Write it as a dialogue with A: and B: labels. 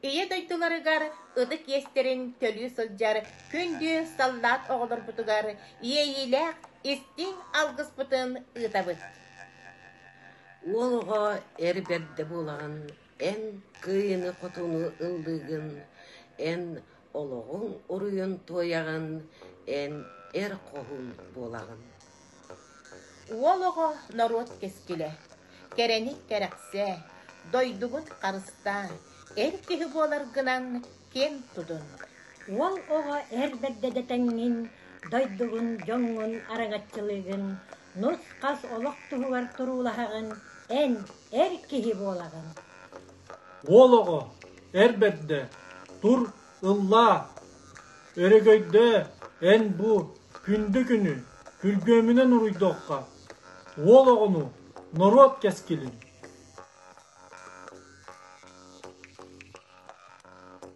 A: Ийэ дойдуларыгар ытык иэстэрин төлүү сылдьар күндү саллаат оҕолорбутугар иэйиилээх истиҥ алгыспытын ыытабыт. Уолуҕа эр бэрдэ буоларын, эн кыайыыны-хотууну ыллыыгын, эн олоҕуҥ уруйун туойаҕын эн эр хоһуун буолаҕын Уол оҕо норуот кэскилэ Кэрэни кэрэхсээ, дойдубут харыстаа, эр киһи буоларгынан киэн тутун Уол оҕо эр бэрдэ дэтэҥҥин, дойдугун, дьоҥҥун араҥаччылыыгын, Нус-хас олох туһугар туруулаһаҕын, эн эр киһи буолаҕын. Уол оҕо, эр бэрдэ, тур, ыллаа. Өрөгөйдөө, эн-бу, күндү-күнү күргүөмүнэн уруйдуохха. Уол оҕону, норуот кэскилин.